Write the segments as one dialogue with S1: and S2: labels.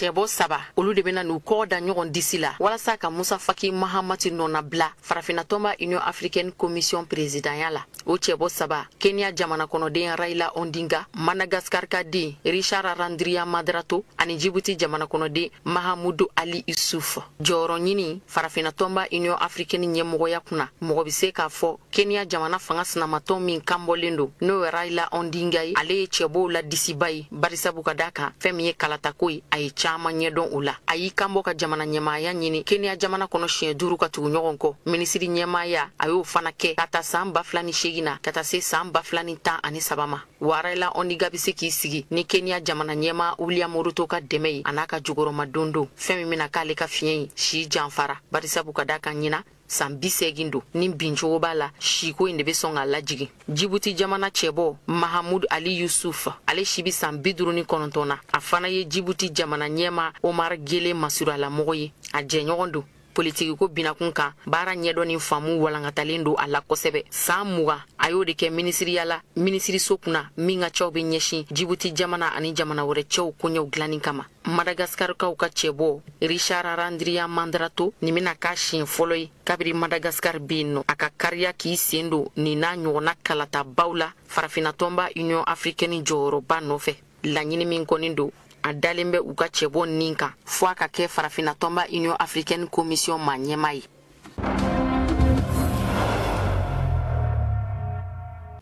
S1: cɛbɔ saba olu de bena n'u kɔgɔ da ɲɔgɔn disi la walasa ka musa faki mahamati nɔnabila farafinatɔnba union africaine commission presidanya la o cɛbɔ saba kenya jamana kɔnɔden raila odinga madagaskar ka den richard randriamandrato ani jibuti jamana kɔnɔden mahamudu ali yusuf jɔyɔrɔ ɲini farafinatɔnba union africaine ɲɛmɔgɔya kunna mɔgɔ be se k'a fɔ kenya jamana fanga sinamatɔn min kanbɔlen don n'o ye raila odinga ye ale ye cɛbɔw la disiba ye barisabu ka da kan fɛɛn min ye kalatako ye a ye caaman ɲɛdɔn o la a y'i kanbɔ ka jamana ɲɛmaaya ɲini kenya jamana kɔnɔ siɲɛ duuru ka tugu ɲɔgɔn kɔ minisiri ɲɛmaaya a y'o fana kɛ ka ta saan ba fila ni seegin na ka taa se saan ba fila ni tan ani saba ma wa raila odinga be se k'i sigi ni kenya jamana ɲɛma william ruto ka dɛmɛ ye a n'a ka jukɔrɔmadondon fɛɛn min bena k'ale ka fiɲɛ ye si janfara barisabu ka da kan ɲinan san bisegin don ni bincogo b'a la siko in de be sɔn k'a lajigin jibuti jamana cɛbɔ mahamud ali yusuf ale si be san biduru ni kɔnɔntɔn na a fana ye jibuti jamana ɲɛma omar gele masurunyalamɔgɔ ye a jɛɲɔgɔn don politikiko binakun kan baara ɲɛdɔn ni faamu walankatalen don a la kosɛbɛ saan mugan a y'o de kɛ minisiriya la minisiriso kunna min ka cɛw be ɲɛsin jibuti jamana ani jamana wɛrɛ cɛw koɲɛw dilanni kama madagaskarikaw ka cɛbɔ richard randriamandrato nin bena k'a siɲɛ fɔlɔ ye kabiri madagaskar be yen nɔ a ka kariya k'i sen don nin n'a ɲɔgɔnna kalatabaw la farafinatɔnba union afrikɛni jɔyɔrɔba nɔfɛ laɲini min kɔnin don a dalen bɛ u ka cɛbɔ nin kan fo a ka kɛ farafinatɔnba union afrikɛni komisiyɔn ma ɲɛma ye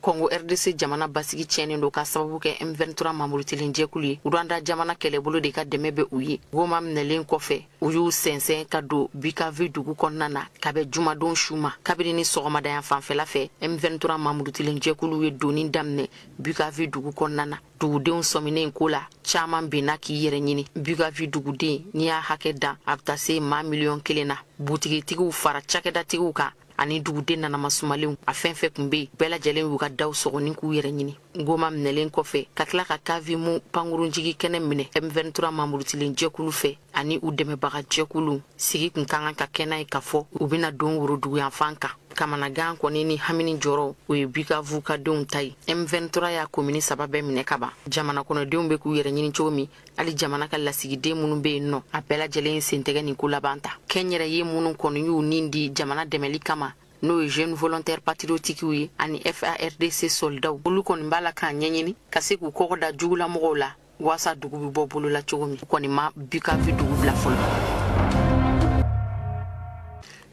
S1: kɔngo rdc jamana basigi tiɲɛnen don k'a sababu kɛ m23 mamurutilen jɛkulu ye rwanda jamana kɛlɛbolo de ka dɛmɛ bɛ u ye goma minɛlen kɔfɛ u y'u sɛnsɛn ka don bukavu dugu kɔnɔna na ka bɛn jumadon su ma kabini ni sɔgɔmada yanfan fɛla fɛ m23 mamurutilen jɛkulu ye donni daminɛ bukavu dugu kɔnɔna na dugudenw sɔminen ko la caaman benna k'i yɛrɛ ɲini bukavu duguden n'i y'a hakɛ dan a bɛ taa se maa miliyɔn kelen na butigitigiw fara cakɛdatigiw kan ani duguden nanamasumalenw a fɛn fɛn kun be bɛɛ lajɛlen y'u ka daw sɔgɔ ni k'u yɛrɛ ɲini goma minɛlen kɔfɛ ka tila ka kavumu pankurunjigikɛnɛ minɛ m23 mamurutilen jɛkulu fɛ ani u dɛmɛbaga jɛkulu sigi kun ka kan ka kɛ n'a ye k'a fɔ u bɛna don woroduguyanfan kan kamanagan kɔni ni hami ni jɔrɔ o ye bukavu ka denw ta ye m23 y'a komini saba bɛɛ minɛ ka ban jamana kɔnɔdenw bɛ k'u yɛrɛ ɲini cogo min hali jamana ka lasigiden minnu bɛ yen nɔ a bɛɛ lajɛlen y'i sen tɛgɛ nin ko laban ta kɛnyɛrɛye minnu kɔni y'u nin di jamana dɛmɛli kama n'o ye jeune volontaire patriotikiw ye ani FARDC soldaw olu kɔni b'a la k'a ɲɛɲini ka se k'u kɔgɔ da jugulamɔgɔw la waasa dugu bɛ bɔ bolo la cogo min u kɔni ma bukavu dugu bila fɔlɔ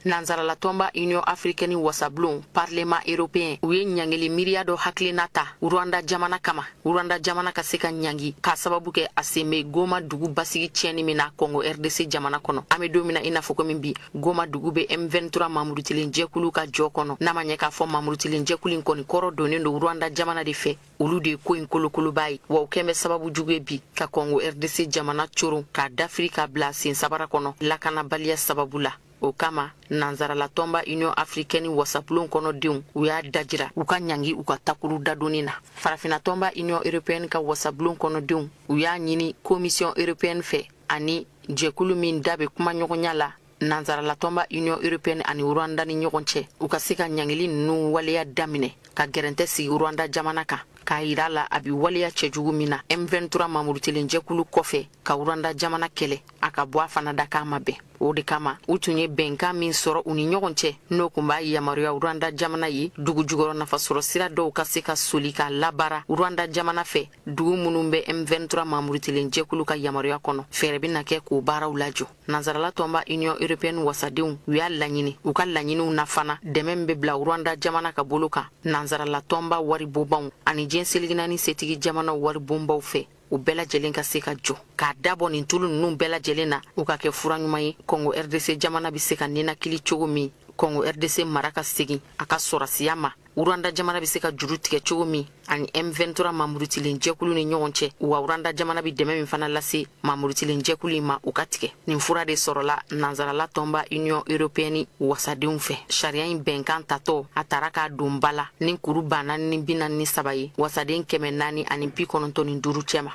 S1: nanzaralatɔnba union africaine wasabulon parlement européen u ye ɲangili miiriya dɔ hakilina ta rwanda jamana kama rwanda jamana ka se ka ɲangi k'a sababu kɛ a sen be goma dugu basigi tiɲɛni min na kɔngo rdc jamana kɔnɔ an be don min na i n'a fɔ komin bi goma dugu be m23 mamurutilen jɛkulu ka jɔ kɔnɔ n'a ma ɲɛ k'a fɔ mamurutilen jɛkulu in kɔni kɔrɔ donnen don rwanda jamana de fɛ olu de ye ko in kolokoloba ye wa u kɛn bɛ sababu jugu ye bi ka kɔngo rdc jamana coron k'a dafiri ka bila sen sabara kɔnɔ lakanabaliya sababu la o kama nanzaralatɔnba union africaine wasabulon kɔnɔ denw u y'a dajira u ka ɲangi u ka takuru dadonni na farafinatɔnba union européenne ka wasabulon kɔnɔ denw u y'a ɲini commission européenne fɛ ani jɛkulu min da bɛ kumaɲɔgɔnya la nansaralatɔnba union européenne ani rwanda ni ɲɔgɔn cɛ u ka se ka ɲangili ninnu waleya daminɛ ka gɛrɛntɛ sigi rwanda jamana kan k'a yira a la a bi waleya cɛjugu min na m23 mamurutilen jɛkulu kɔfɛ ka rwanda jamana kɛlɛ a ka bɔ a fana da k'a ma bɛn o de kama u tun ye bɛnkan min sɔrɔ u ni ɲɔgɔn cɛ n'o kun b'a yamaruya rwanda jamana ye dugujukɔrɔ nafasɔrɔ sira dɔw ka se ka soli k'a labaara rwanda jamana fɛ dugu minnu bɛ m23 mamurutilen jɛkulu ka yamaruya kɔnɔ fɛɛrɛ bɛna kɛ k'o baaraw lajɔ Nansarala tɔnba Union européenne wasadenw u y'a laɲini u ka laɲiniw na fana dɛmɛ min bɛ bila Rwanda jamana ka bolo kan nansarala tɔnba waribonbaw ani diɲɛ seleke naani setigi jamanaw waribonbaw fɛ u bɛɛ lajɛlen ka se ka jɔ k'a dabɔ nin tulu ninnu bɛɛ lajɛlen na o ka kɛ fura ɲuman ye kɔngo rdc jamana bɛ se ka ninakili cogo min kɔngo rdc mara ka segin a ka sɔrasiya ma Rwanda jamana bɛ se ka juru tigɛ cogo min ani M23 mamurutilen jɛkulu ni ɲɔgɔn cɛ wa Rwanda jamana bɛ dɛmɛ min fana lase mamurutilen jɛkulu in ma u ka tigɛ nin fura de sɔrɔla nansarala tɔnba Union européenne wasadenw fɛ sariya in bɛnkan tatɔ a tara k'a don ba la ni kuru ba naani ni bi naani ni saba ye wasaden kɛmɛ naani ani bi kɔnɔntɔn ni duuru cɛma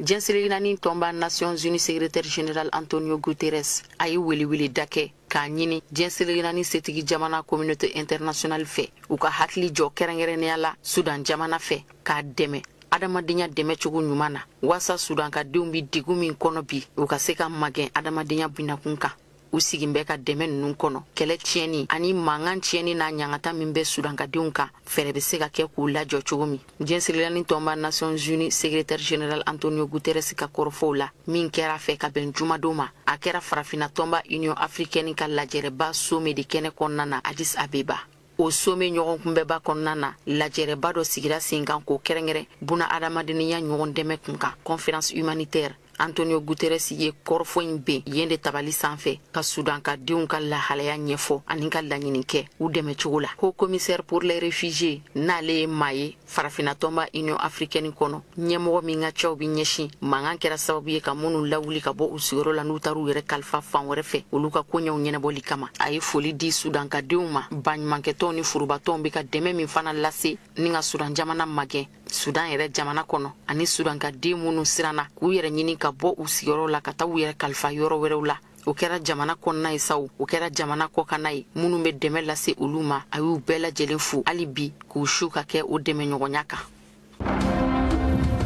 S1: diɲɛ seleke naani tɔnba nations unies secrétaire général antonio guterres a ye weleweleda kɛ k'a ɲini diɲɛ seleke naani setigi jamana communauté internationale fɛ u ka hakili jɔ kɛrɛnkɛrɛnnenya la sudan jamana fɛ k'a dɛmɛ adamadenya dɛmɛ cogo ɲuman na waasa sudankadenw be degun min kɔnɔ bi u ka se ka magɛn adamadenya binakun kan u sigin bɛ ka dɛmɛ ninnu kɔnɔ kɛlɛ tiɲɛni ani mankan tiɲɛni n'a ɲangata min bɛ sudankadenw kan fɛɛrɛ bɛ se ka kɛ k'u lajɔ cogo min diɲɛ seleke naani tɔnba nations unies secrétaire général antonio guterres ka kɔrɔfɔw la min kɛra a fɛ ka bɛn jumadon ma a kɛra farafina tɔnba union africaine ka lajɛrɛba sommet de kɛnɛ kɔnɔna na addis abeba o sommet ɲɔgɔnkunbɛnba kɔnɔna na lajɛrɛba dɔ sigira sen kan k'o kɛrɛnkɛrɛn buna adamadenya ɲɔgɔn dɛmɛ kun kan conférence humanitaire antonio guterres ye kɔrɔfɔ in ben yen de tabali sanfɛ ka sudan ka denw ka lahalaya ɲɛfɔ ani ka laɲini kɛ u dɛmɛ cogo la haut commissaire pour les réfugiés n'ale ye maa ye farafinatɔnba union africaine kɔnɔ ɲɛmɔgɔ min ka cɛw bɛ ɲɛsin mankan kɛra sababu ye ka minnu lawuli ka bɔ u sigiyɔrɔ la n'u taara u yɛrɛ kalifa fan wɛrɛ fɛ olu ka koɲɛw ɲɛnabɔli kama a ye foli di sudankadenw ma baɲumankɛtɔnw ni forobatɔnw bɛ ka dɛmɛ min fana lase ni ka sudan jamana magɛn sudan yɛrɛ jamana kɔnɔ ani sudan ka den minnu siranna k'u yɛrɛ ɲini ka bɔ u sigiyɔrɔ la ka taa u yɛrɛ kalifa yɔrɔ wɛrɛw la o kɛra jamana kɔnɔna ye sa o kɛra jamana kɔkanna ye minnu bɛ dɛmɛ lase olu ma a y'u bɛɛ lajɛlen fo hali bi k'u su ka kɛ o dɛmɛɲɔgɔnya kan